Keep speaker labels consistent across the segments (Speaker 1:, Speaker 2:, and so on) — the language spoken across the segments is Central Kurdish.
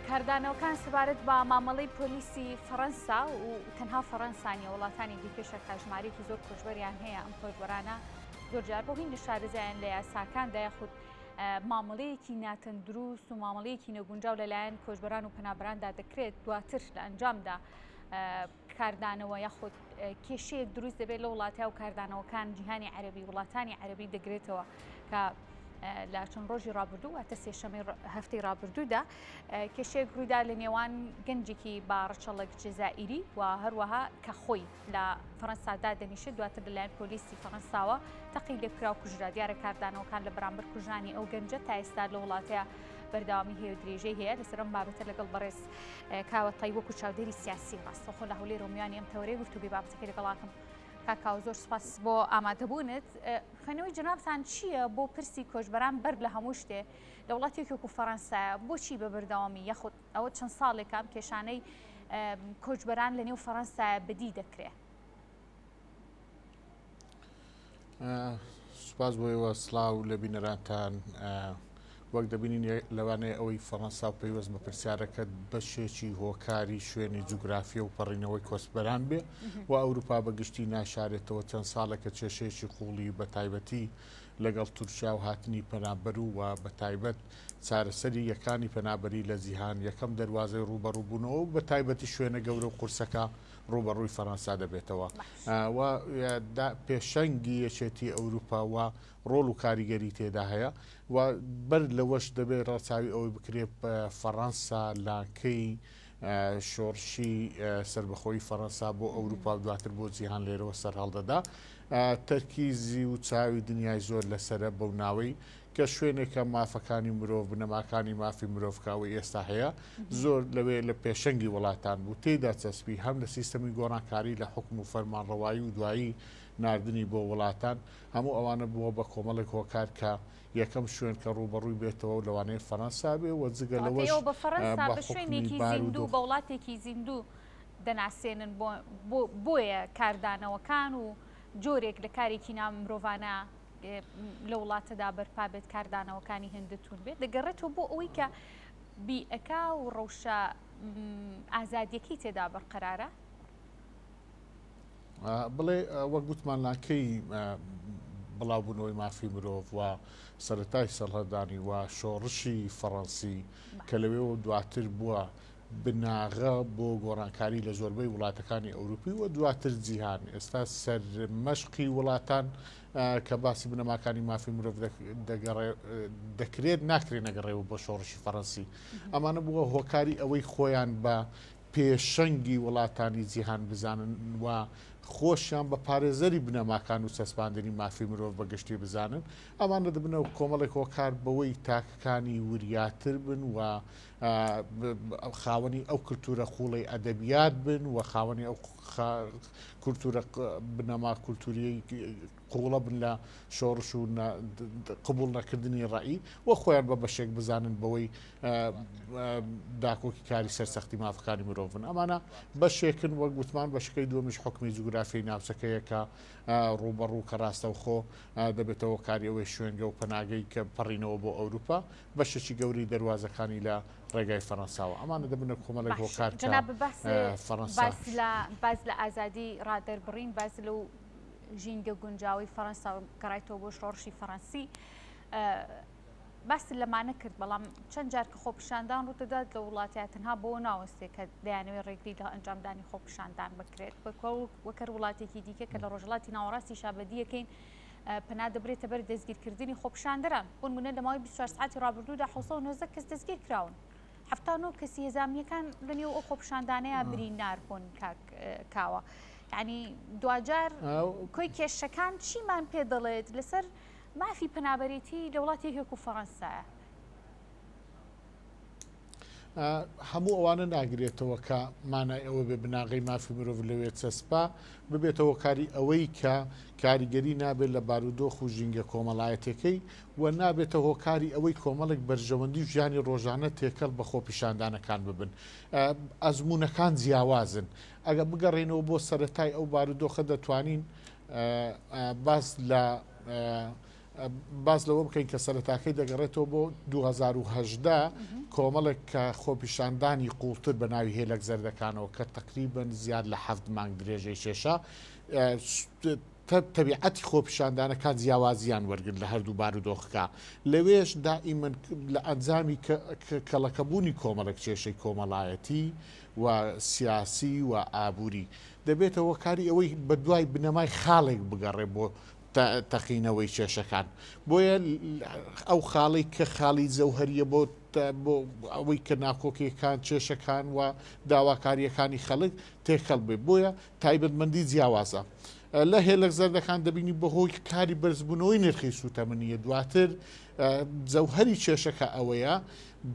Speaker 1: کاردانەوەکان سەبارەت بە مامەڵەی پۆلیسی فەڕەنسا و تەنها فەڕەنسانیە وڵاتانی دیکەشە کاژمارێکی زۆر کۆچبەریان هەیە ئەم کۆچبەرانە زۆرجار بۆ هینی شارەزایان لە یاساکاندا یاخود مامەڵەیەکی ناتەندروست و مامەڵەیەکی نەگونجاو لەلایەن کۆچبەران و پەنابراندا دەکرێت دواتر لە ئەنجامدا کاردانەوە یاخود کێشەیەک دروست دەبێت لە وڵاتە و کاردانەوەکان جیهانی عەربی وڵاتانی عەربی دەگرێتەوە کە لە چەند ڕۆژی ڕابردوو واتە سێشەمەی هەفتی ڕابردوودا کێشێک ڕوویدا لە نێوان گەنجێکی با ڕچەڵک جزائیری و هەروەها کە خۆی لە فەەنسادا دەنیشت دواتر لەلایەن پۆلیسی فەەنساوە تەقی لێکرا و کوژرا دیارە کاردانەوەکان لە بەرامبەر کوژانی ئەو گەنجە تا ئێستا لە وڵاتەیە بەرداوامی هەیە درێژەی هەیە لەسەرم بابەتە لەگەڵ بەڕێز کاوە تای وەکو چاودێری سیاسی ڕاستەخۆ لە هەولێر و میوانی ئەم تەوەرەی گفتوگوی بابەتەکە لەگەڵاکەم کاکاو زۆر سپاس بۆ ئامادەبوونت خوێنەوەی جنابتان چییە بۆ پرسی کۆچبەران بەر لە هەموو شتێ لە وڵاتێکی وەکو فەەنسا بۆچی بە بەردەوامی یاخود ئەوە چەند ساڵێکام کێشانەی کۆچبەران لە نێو فەەنسا بدی دەکرێت
Speaker 2: سوپاس بۆ ئێوە سلااو لە بینەرانتان وەک دەبینین لەوانەیە ئەوەی فەڕەنسا و پەیوەست بە پرسیارەکە بەشێکی هۆکاری شوێنی جوگرافیە و پەڕینەوەی کۆسپەران بێ و ئەوروپا بەگشتی ناشارێتەوە چەند ساڵێکە کێشەیەکی قوڵی بە تایبەتی لەگەڵ تورکیا و هاتنی پەنابەر و و بە تایبەت چارەسەری یەکانی پەنابەری لە جیهان یەکەم دەواازەی ڕوبەڕووبوونەوە و بە تایبەتی شوێنە گەورە و قورسەکە ڕووبەڕووی فەرەنسا دەبێتەوە و پێشەنگی یەکێتی ئەوروپا و ڕۆڵ و کاریگەری تێدا هەیە و بەر لەوەش دەبێت ڕەچاوی ئەوەی بکرێت فەڕەنسا لاکەی شۆڕشی سربەخۆی فەڕەنسا بۆ ئەوروپا و دواتر بۆ جیهان لێرەوە سەرهەڵدەدا تەرکیزی و چاوی دنیای زۆر لەسرە بەو ناوەی کە شوێنێکە مافەکانی مرۆڤ بنەماکانی مافی مرۆڤ کە ئەوەی ئێستا هەیە زۆر لەوێ لە پێشەنگی وڵاتان بوو تێدا چەسپی هەم لە سیستەمی گۆڕانکاری لە حکم و فەرمانڕەوایی و دوایی نردنی بۆ وڵاتان هەموو ئەوانە بووە بە کۆمەڵێک هۆکار کە یەکەم شوێن کە ڕوبەڕووی بێتەوە لەوانەیە فەەنسا بێ وە جگە لەوەش بە فەەنسا بە
Speaker 1: شوێنێکی زیندوو بە وڵاتێکی زیندوو دەناسێنن بۆیە کاردانەوەکان و جۆرێک لە کارێکی نامرۆڤانە لە وڵاتەدا بەرپا بێت کاردانەوەکانی هێندە توون بێت دەگەڕێتەوە بۆ ئەوەی کە بیئەکا و ڕەوشە ئازادیەکەی تێدا بەرقەرارە
Speaker 2: بڵێ وەک گوتمان ناکەی بڵاوبوونەوەی مافی مرۆڤ و سەتای سەڵهدانی و شۆڕشی فەڕەنسی کە لەوێەوە دواتر بووە بناغە بۆ گۆڕانکاری لە زۆربەی وڵاتەکانی ئەوروپی و دواتر جیهان ئێستا سەر مەشقی وڵاتان کە باسی بنەماکانی مافی مرۆڤ دەکرێت ناکرێت نەگەڕێەوە بۆ شۆڕشی فەڕەنسی ئەمانە بووە هۆکاری ئەوەی خۆیان بە پێشەنگی وڵاتانی جیهان بزانن و خۆشیان بە پارێزەری بنەماکان و چەسپاندنی مافی مرۆڤ بە گشتی بزانن ئەمانە دەبنەوە کۆمەڵێک هۆکار بەوەی تاکەکانی وریاتر بن و خاوەنی ئەو کللتورە قوڵی ئەدەبیات بن و خاوەنی ئەو کللتورە بنەما کللتوری قوڵە بن لە شۆڕش و قبول نەکردنی ڕایی و خۆیان بە بەشێک بزانن بەوەی داکۆکی کاری سەرسەختی مافەکانی مرۆڤن ئەمانە بەشێکن وەک گوتمان بەشەکەی دومیش حکمی جوگرافی ناوچەکەیەکە ڕوبەڕوو کە ڕاستەوخۆ دەبێتەوە کاریەوەی شوێنگە و پەناگەی کە پەڕینەوە بۆ ئەوروپا بەشێکی گەورەی دەروازەکانی لە ڕێگای فەرەنساوە ئەمانە دەبنە کۆمەڵێک هۆکار کە فەرەنسا
Speaker 1: باز لە ئازادی ڕادەربڕین باز لەو ژینگە گونجاوی فەرەنسا گەڕایتەوە بۆ شۆڕشی فەرەنسی باست لەمانە کرد بەڵام چەند جار کە خۆپیشاندان ڕوودەدات لە وڵاتیا تەنها بۆ ناوەستێک کە دەیانەوەی ڕێگری لە ئەنجامدانی خۆپیشاندان بکرێت بەکۆ وەکەر وڵاتێکی دیکە کە لە ڕۆژڵاتی ناوەڕاستی شابەدیەکەین پەنا دەبرێتە بەر دەستگیرکردنی خۆپیشاندەران، بۆ نموونە لە ماوەی بیست و چوار سەعاتی ڕابردوودا حەوت سەد و نۆزدە کەس دەستگیر کراون، حەفتا و نۆ کەسی هێزامنییەکان لەنێو ئەو خۆپیشاندانەیە برینار بوون کاک کاوە، یانی دواجار کۆی کێشەکان چیمان پێ دەڵێت لەسەر مافی پەنابەرێتی لە وڵاتی هێک و فەڕەنسایە؟
Speaker 2: هەموو ئەوانە ناگرێتەوە کە مانای ئەوە بێ بناغەی مافی مرۆڤ لەوێ چەسپا ببێتەوە کاری ئەوەی کە کاریگەری نابێت لە بارودۆخ و ژینگە کۆمەڵایەتەکەی و نابێتە هۆکاری ئەوەی کۆمەڵێک بەرژەوەندی و ژیانی ڕۆژانە تێکەڵ بە خۆپیشاندانەکان ببن ئەزمونونەکان جیاوازن ئەگە بگەڕێنەوە بۆ سەتای ئەو بارودۆخە دەتوانین باس لە باس لەوە بکەین کە سەرەتاکەی دەگەڕێتەوە بۆ 2010 کۆمەڵێک کە خۆپیشاندانی قوڵتر بە ناوی هێلک زەردەکانەوە کە تقریبن زیاد لە حەفت مانگ درێژەی شێشە تەبیعەتی خۆپیشاندانەکان جیاوازیان وەرگن لە هەردوو بار و دۆخەکە لەوێش دائیمەن لە ئەنجامی کەڵەکەبوونی کۆمەڵک کێشەی کۆمەڵایەتی و سیاسی و ئابووری دەبێتەوە کاری ئەوەی بە دوای بنەمای خاڵێک بگەڕێ بۆ تەقینەوەی کێشەکان بۆیە ئەو خاڵی کە خاڵی جەوهریە بۆ بۆ ئەوەی کە ناکۆکیەکان کێشەکان و داواکاریەکانی خەڵک تێکەڵ بێ بۆیە تایبەتمەندی جیاوازە لە هێلک زەردەکان دەبینی بەهۆی کاری بەرزبوونەوەی نرخی سووتەمەنیە دواتر جەوهری کێشەکە ئەوەیە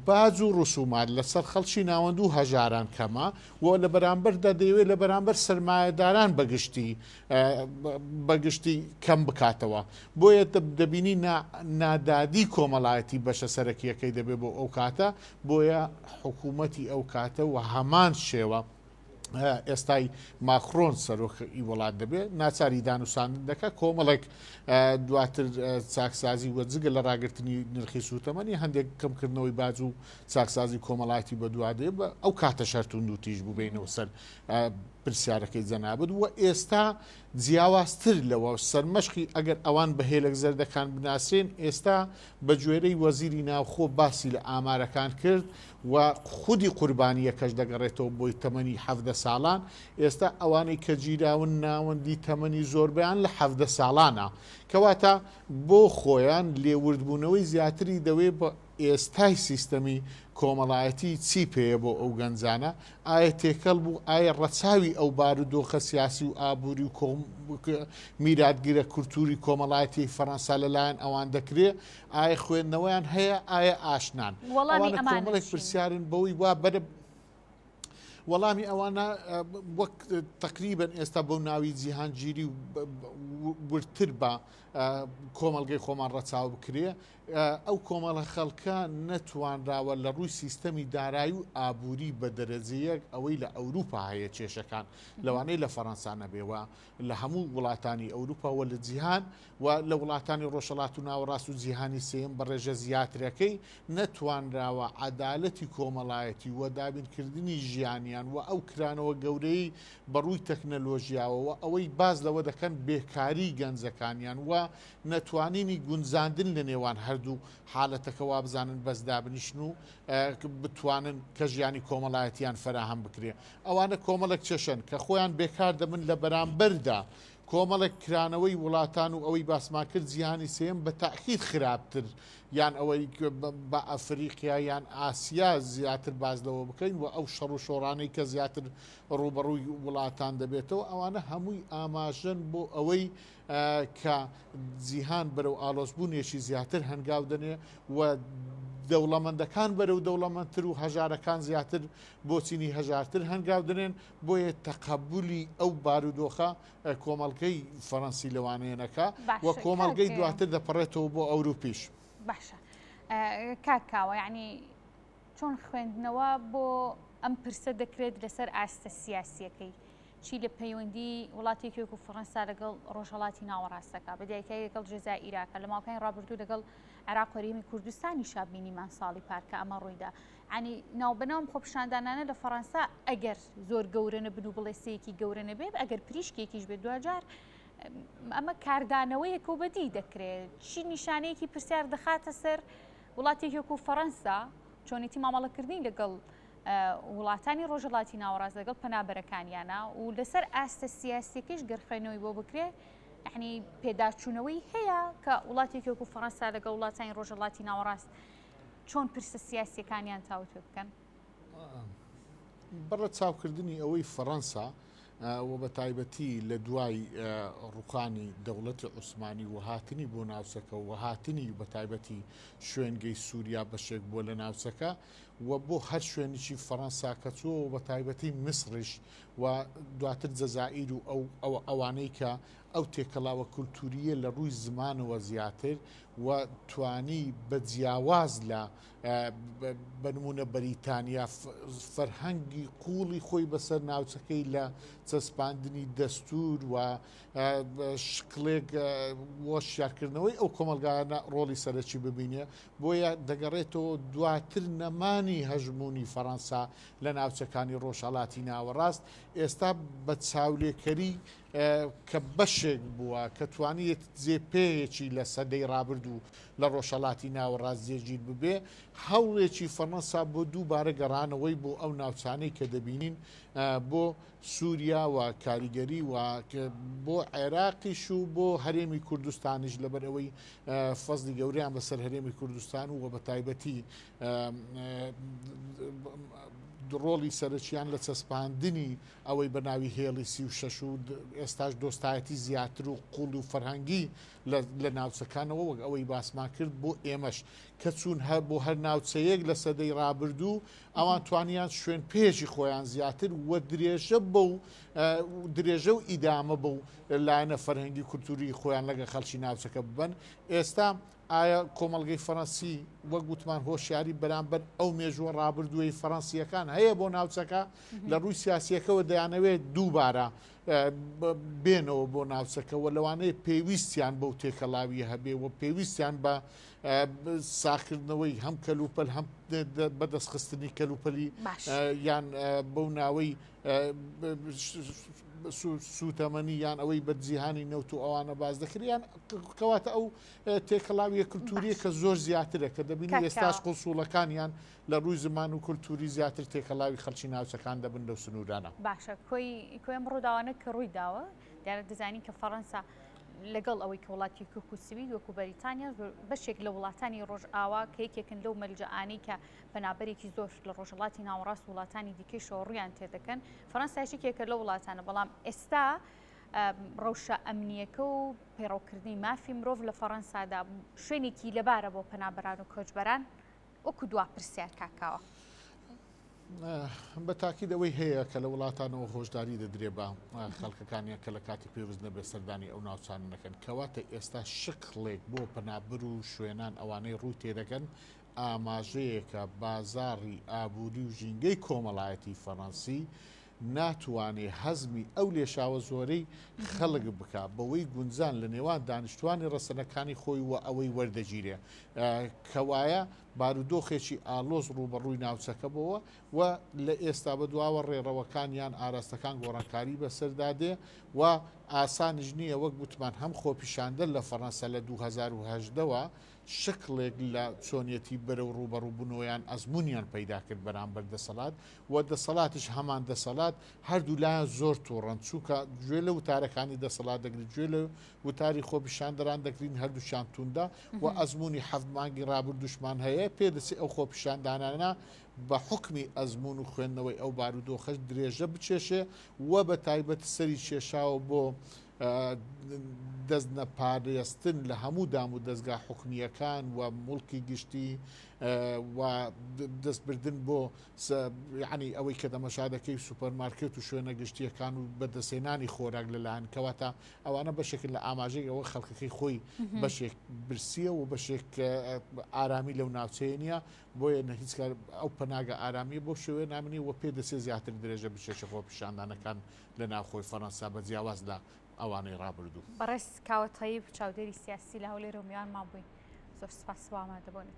Speaker 2: باج و ڕسومات لەسەر خەڵکی ناوەندو هەژاران کەمە و لە بەرامبەردا دەیەوێت لە بەرامبەر سرمایهداران بەگشتی بەگشتی کەم بکاتەوە بۆیە دەبینی نادادی کۆمەڵایەتی بەشە سەرەکیەکەی دەبێت بۆ ئەو کاتە بۆیە حکوومەتی ئەو کاتە و هەمان شێوە ئێستای ماخرۆن سەرۆکی وڵات دەبێت ناچاری دانوساندن دەکە کۆمەڵێک دواتر چاکسازی وە جگە لە ڕاگررتنی نرخی سووتەمەنی هەندێک کەمکردنەوەی باج و چاکسازی کۆمەڵاتی بە دوادێ بە ئەو کاتە شەرتون و تیژ بووبینەوە سەر پرسیارەکەی جەنابت و ئێستا جیاوازتر لەوە سەرمەشقی ئەگەر ئەوان بە هێلک زەردەکان بناسرێن ئێستا بە گوێرەی وەزیری ناوخۆ باسی لە ئامارەکان کرد و خودی قوربانیەکەش دەگەڕێتەوە بۆی تەمەنی حەفدە ساڵان ئێستا ئەوانەی کە گیراون ناوەندی تەمەنی زۆربیان لە حەفدە ساڵانە کەواتە بۆ خۆیان لێوردبوونەوەی زیاتری دەوێ ئێستای سیستەمی کۆمەڵایەتی چی پێیە بۆ ئەو گەنجانە؟ ئایا تێکەڵ بوو؟ ئایا ڕەچاوی ئەو بارودۆخە سیاسی و ئابووری و میراتگرە کولتووری کۆمەڵایەتیی فەڕەنسا لەلایەن ئەوان دەکرێ؟ ئایا خوێندنەوەیان هەیە؟ ئایا ئاشنان؟ وەڵامی ئەمانە چین؟ ئەوانە کۆمەڵێک پرسیارن بەوەی وا بەرە وەڵامی ئەوانە وەک تەقریبەن ئێستا بەو ناوی جیهانگیری و وردتر بە کۆمەڵگەی خۆمان ڕەچاو بکرێ ئەو کۆمەڵە خەڵکە نەتوانراوە لە ڕووی سیستەمی دارایی و ئابووری بە دەرەجە یەک ئەوەی لە ئەوروپا هەیە کێشەکان لەوانەیە لە فەرەنسا نەبێ و لە هەموو وڵاتانی ئەوروپا و لە جیهان و لە وڵاتانی ڕۆژهەڵات و ناوەڕاست و جیهانی سێیەم بە ڕێژە زیاترەکەی نەتوانراوە عەدالەتی کۆمەڵایەتی و دابینکردنی ژیانیان و ئەو کرانەوە گەورەی بە ڕووی تەکنەلۆژیاوە و ئەوەی باس لەوە دەکەن بێکاری گەنجەکانیان و نەتوانینی گونجاندن لە نێوان هەردوو حالەتەکە وابزانن بەس دابنیشن و بتوانن کە ژیانی کۆمەڵایەتیان فەراهەم بکرێ ئەوانە کۆمەڵێک چەشەن کە خۆیان بێکار دەبن لە بەرامبەردا کۆمەڵێک کرانەوەی وڵاتان و ئەوەی باسمان کرد جیهانی سێم بە تاکید خراپتر یان ئەوەی بە ئەفریقیا یان ئاسیا زیاتر باز لەوە بکەین و ئەو شەڕ و شۆڕانەی کە زیاتر ڕوبەڕووی وڵاتان دەبێتەوە ئەوانە هەمووی ئاماژەن بۆ ئەوەی کە جیهان بەرەو ئاڵۆزبوونێکی زیاتر هەنگاو دەنێ و دەوڵەمەندەکان بەرەو دەوڵەمەندتر و هەژارەکان زیاتر بۆ چینی هەژارتر هەنگاو دەنێن بۆیە تەقەبولی ئەو بارودۆخە کۆمەڵگەی فەڕەنسی لەوانەیەنەکە و کۆمەڵگەی دواتر دەپەڕێتەوە بۆ ئەوروپیش باشە
Speaker 1: کاکاوە یعنی چۆن خوێندنەوە بۆ ئەم پرسە دەکرێت لەسەر ئاستە سیاسیەکەی چی لە پەیوەندیی وڵاتێکی وەکوو فەڕەنسا لەگەڵ ڕۆژهەڵاتی ناوەڕاست دەکا، بە دیاریکراوی لەگەڵ جەزائیرا کە لە ماوەکانی ڕابردوو لەگەڵ عێراق و هەرێمی کوردستانیشا بینیمان ساڵی پار کە ئەمە ڕووی دا. یانی ناوبەناو ئەم خۆپیشاندانانە لە فەڕەنسا ئەگەر زۆر گەورە نەبن و بڵێسەیەکی گەورە نەبێت، ئەگەر پریشکێکیش بێت دواجار ئەمە کاردانەوەیەکە و بەدیی دەکرێت. چی نیشانەیەکی پرسیار دەخاتە سەر وڵاتێکی وەکوو فەڕەنسا چۆنێتی مامەڵەکردنی لەگەڵ وڵاتانی ڕۆژهەڵاتی ناوەڕاست لەگەڵ پەنابەرەکانیانە و لەسەر ئاستە سیاسیەکەیش گەر خوێنەوەی بۆ بکرێ یعنی پێداچوونەوەی هەیە کە وڵاتێکی وەکو فەڕەنسا لەگە وڵاتانی ڕۆژهڵاتی ناوەڕاست چۆن پرسە سیاسیەکانیان تاوتێ بکەن
Speaker 2: بەڕە چاوکردنی ئەوەی فەڕەنسا و بە تایبەتی لە دوای ڕوخانی دەوڵەتی عوسمانی و هاتنی بۆ ناوچەکە و هاتنی بە تایبەتی شوێنگەی سووریا بەشێک بووە لە ناوچەکە و بۆ هەر شوێنیکی فەرەنسا کە چووە و بەتایبەتی میسڕیش و دواتر جەزائیر و ئەو ئەوە ئەوانەی کە ئەو تێکەڵاوە کولتووریە لە ڕووی زمانەوە زیاتر و توانی بە جیاواز لە بەنمونە بەریتانیا فەرهەنگی قوڵی خۆی بەسەر ناوچەکەی لە چەسپاندنی دەستور و شکلێک وە شارکردنەوەی ئەو کۆمەلگانە ڕۆڵی سەرەکی ببینێ بۆیە دەگەڕێتەوە دواتر نەمانی هەژموونی فەڕەنسا لە ناوچەکانی ڕۆژهەڵاتی ناوەڕاست، ئێستا بە چاولێکەری کە بەشێک بووە کە توانیت جێپێیەکی لە سەدەی ڕابردوو لە ڕۆژهەڵاتی ناوەڕاست جێگیر ببێ، هەوڵێکی فەڕەنسا بۆ دووبارە گەڕانەوەی بۆ ئەو ناوچانەی کە دەبینین بۆ سووریا و کاریگەری و بۆ عێراقیش و بۆ هەرێمی کوردستانیش لەبەر ئەوەی فەزڵی گەورەیان بەسەر هەرێمی کوردستان و وە بە تایبەتی ڕۆڵی سەرچیان لە چەسپاندنی ئەوەی بە ناوی هێڵی سی و شەش و ئێستاش دۆستایەتی زیاتر و قوڵ و فەرهەنگی لە ناوچەکانەوە وەک ئەوەی باسمان کرد بۆ ئێمەش کە چوون هەر بۆ هەر ناوچەیەک لە سەدەی ڕابردوو ئەوان توانیان شوێن پێیەکی خۆیان زیاتر و درێژە بە و درێژە و ئیدامە بە و لایەنە فەرهەنگی کولتوری خۆیان لەگە خەلکی ناوچەکە ببن ئێستا ئایا کۆمەلگەی فەرەنسی وەک گوتمان هۆشیاری بەرامبەر ئەو مێژووە ڕابردووی فەرەنسیەکان هەیە بۆ ناوچەکە لە ڕووی سیاسیەکەەوە دەیانەوێت دووبارە بێنەوە بۆ ناوچەکەەوە لەوانەیە پێویستیان بەو تێکەڵاوی هەبێ و پێویستیان بە ساخکردنەوەی هەم کەلوپەل هەم بەدەستخستنی کەلوپەلی یان بەو ناوەی سووتەمەنی یان ئەوەی بە جیهانی نەوت و ئەوانە باز دەکریان کەواتە ئەو تێکەڵاویە کللتوریە کە زۆر زیاترە کە دەبینی ئێستاش قوسوڵەکانیان لە ڕووی زمان و کللتوری زیاتر تێکەڵاوی خەلکی ناوچەکان دەبن لەو سنوورانە باشە کۆی
Speaker 1: کۆم ڕووداوانە کە ڕووی داوە. دیارە دەزانین کە فەڕەنسا لەگەڵ ئەوەی کە وڵاتی کوک و سوید وەکو بەریتانیا بەشێک لە وڵاتانی ڕۆژئاوا کە یەکێکن لەو مەرجعانەی کە پەنابەرێکی زۆر لە ڕۆژهڵاتی ناوەڕاست وڵاتانی دیکەی شۆڕیان تێدەکەن فەرەنسایشێکێکە لە وڵاتانە بەڵام ئێستا ڕەوشە ئەمنیەکە و پەیڕەوکردنی مافی مرۆڤ لە فەڕەنسادا شوێنێکی لەبارە بۆ پەنابەران و کۆچبەران وەکو دوا پرسیار کاک کاوە.
Speaker 2: بە تاکید ئەوەی هەیە کە لە وڵاتانەوە هۆشداری دەدرێ بە خەڵکەکانیان کە لە کاتی پێوست نەبێ سەردانی ئەو ناوچانە نەکەن کەواتە ئێستا شکڵێک بۆ پەنابەر و شوێنان ئەوانەی ڕووی تێدەکەن ئاماژەیەکە بازاڕی ئابووری و ژینگەی کۆمەڵایەتی فەڕەنسی ناتوانێ هەزمی ئەو لێشاوە زۆرەی خەڵک بکا بەوەی گونجان لە نێوان دانیشتوانی ڕەسەنەکانی خۆی و ئەوەی وەردەگیرێ کەوایە بارودۆخێکی ئالۆز ڕووبەڕووی ناوچەکە بۆوە و لە ئێستا بە دواوە ڕێڕەوەکان یان ئاراستەکان گۆڕانکاری بەسەردا دێ و ئاسانیش نییە وەک گوتمان هەم خۆپیشاندە لە فەڕەنسا لە 2010ەوە شکڵێک لە چۆنیەتی بەرەو ڕووبەڕووبنەوەیان ئەزمونیان پەیدا کرد بەرامبەر دەسەڵات و دەسەڵاتیش هەمان دەسەڵات، هەردوو لایان زۆر توڕەن، چونکە گوێ لە وتارەکانی دەسەڵات دەگرین، گوێ لە وتاری خۆپیشاندەران دەگرین، هەردووکیان توندە و ئەزموونی حەفت مانگی رابردووشمان هەیە، پێدەچێت ئەو خۆپیشاندانانە بە حوکمی ئەزموون و خوێندنەوەی ئەو بارودۆخەش درێژە بکێشێ و بە تایبەت سەری کێشاوە بۆ دەست نەپارێزتن لە هەموو دام و دەستگا حکومیەکان و مڵکی گشتی و دەستبردن بۆ سە یەعنی ئەوەی کە تەمەشا دەکەی سوپەرمارکێت و شوێنە گشتییەکان و بەدەستهێنانی خۆراک لەلایەن کەواتە ئەوانە بەشێکن لە ئاماژەی ئەوە خەڵکەکەی خۆی بەشێک برسیە و بەشێک ئارامی لەو ناوچەیە نیە بۆیە نە هیچ کار ئەو پەناگە ئارامی بۆ شوێ نامنی و پێ دەسێ زیاتر درێژە بچێشە خۆ پیشاندانەکان لە ناوخۆی فەرەنسا بە جیاواز لە ئەوانەی ڕابردوو بەڕێز
Speaker 1: کاوە تەیب چاودێری سیاسی لە هەولێر و
Speaker 2: میوانمان
Speaker 1: بووی زۆر سپاس بۆ ئامادەبوونت.